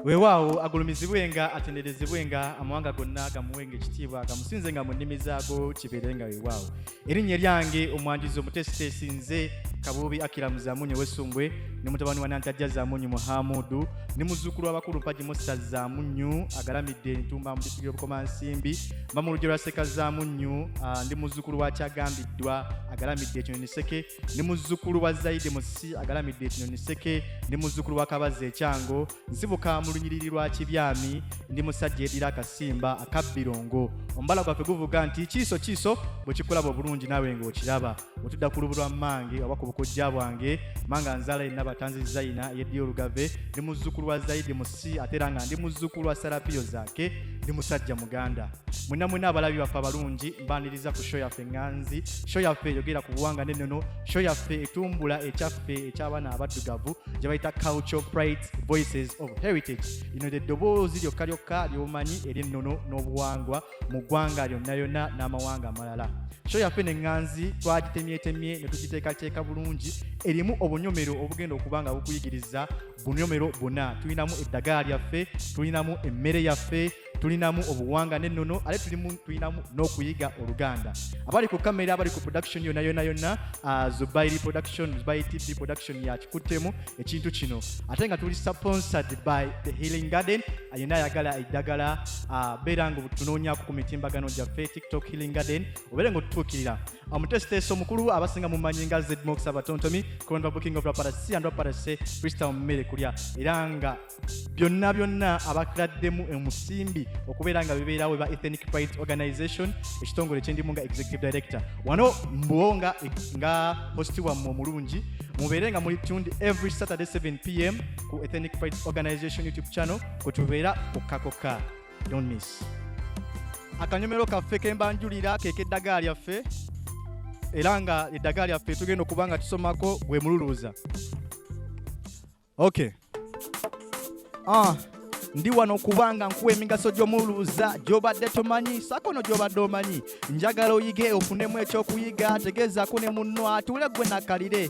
weewaawo agulumizibwe nga atenderezebwe nga amawanga gonna gamuwe nga ekitiibwa gamusinze nga mu nnimi zaago kibeere nga weewaawo erinnya eryange omwanjuzi omuteesiteesi nze kabuubi akira muzamunyo wesumbwe ne mutabani wa nantajja zamunyu muhamudu ne muzuukulu w'abakulu mpagi musa zamunyu agalamidde entumba mu disitulikiti y'obukomansimbi mba mu lugero lwa sekazzaamu nnyu ah, ndi muzzukulu wa kyagambiddwa agalamidde ekinyonyi seke ndi muzzukulu wa zaide musisi agalamidde ekinyonyi seke ndi muzzukulu wa kabazza ekyango nsibuka mu lunyiriri lwa kibyami ndi musajja edira akasimba akabbirongo omubala gwaffe guvuga nti kiiso kiiso bwe kikulaba obulungi naawe ng'okiraba otudda ku lubu lwa mmange oba ku bukojja bwange manga nzaala yenna batanzi zaina eyeddiyo olugave ndi muzzukulu wa zaidi musi ate era nga ndi muzzukulu wa sarapiyo zaake ndi musajja muganda mwena mwena abalabi baffe abalungi mbaniriza ku sho yaffe nganzi sho yaffe eyogera ku buwanga n'ennono sho yaffe etumbula ekyaffe eky'abaana abaddugavu gye bayita culture pride voices of heritage lino lye ddoboozi lyokka lyokka ly'omanyi ery'ennono n'obuwangwa mu ggwanga lyonna yonna n'amawanga amalala sho yaffe ne ŋŋanzi twagitemyetemye ne tugiteekateeka bulungi erimu obunyomero obugenda okuba nga bukuyigiriza bunyomero buna tulinamu eddagala lyaffe tulinamu emmere yaffe tulinamu obuwanga n'ennono ate tulinamu n'okuyiga oluganda abali ku kamera abali ku production yonna yonna yonna ah, zubairi production zubairi tv production yakikuttemu ekintu kino ate nga tuli sponsored by the healing garden yenna ayagala eddagala ah, beera nga otunoonyako ku mitimbagano gyaffe tiktok healing garden obeere nga otutuukirira omuteesiteesi omukulu abasinga mumanyi nga zmox abatontomi coronavirus booking of raparasi and raparasi freestyle mmere kulya era nga byonna byonna abakladdemu omusimbi okubeera nga bibeerawo eba ethnic pride organization ekitongole kyendimu nga executive director wano mbuwo nga nga hosti wammwe omulungi mubeere nga muli tuned every saturday 7 pm ku ethenic pride organization youtube channel kwetubeera kokkakoka don't miss akanyomero kaffe kembanjulira kekeddagala lyaffe era nga eddagala lyaffe tugenda okuba nga tusomako gwe mululuuza okay ah. ndi wano kubanga nkuwa emigaso gy'omuluuza gy'obadde tomanyi sakono gy'obadde omanyi njagala oyige ofunemu ekyokuyiga tegeezako ne munno atuule gwe nakalire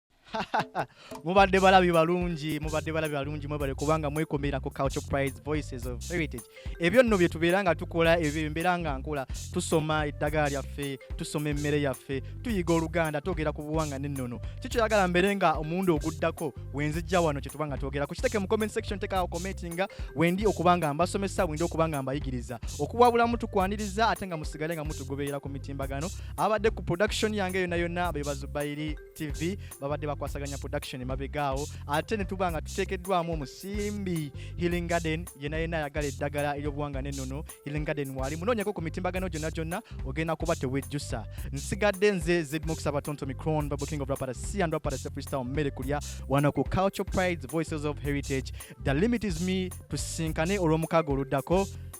mubadde balabi balungi mubadde balabi balungi mwebale kubanga mwekomera ku culture prize voices of heritage ebyo nno bye tubeera nga tukola ebyo mbeera nga nkola tusoma eddagala lyaffe tusoma emmere yaffe tuyiga oluganda twogera ku buwanga n'ennono kikyoyagala mbeere nga omuwundi oguddako wenzijja wano kyetuba nga twogera ku kiteke mu comment section tekawo commentinga wendi okuba nga mbasomesa wendi okuba nga mbayigiriza okuwabulamu tukwaniriza ate nga musigale nga mutugoberera ku mitimbagano abadde ku production yange yonna yonna bebazubayiri tv babadde bakwasaganya production emabegaawo ate ne tuba nga tuteekeddwamu omusimbi healing garden yena yena ayagala eddagala ery'obuwanga n'ennono healing garden waali munoonyeko ku mitimbagano gyonna gyonna ogenda kuba tewejjusa nsigadde nze zedmokusaba tonto micron bible king of rapara c and rapara sefristal mmere kulya wano ku culture prides voices of heritage the limit is me tusinkane olw'omukaaga oluddako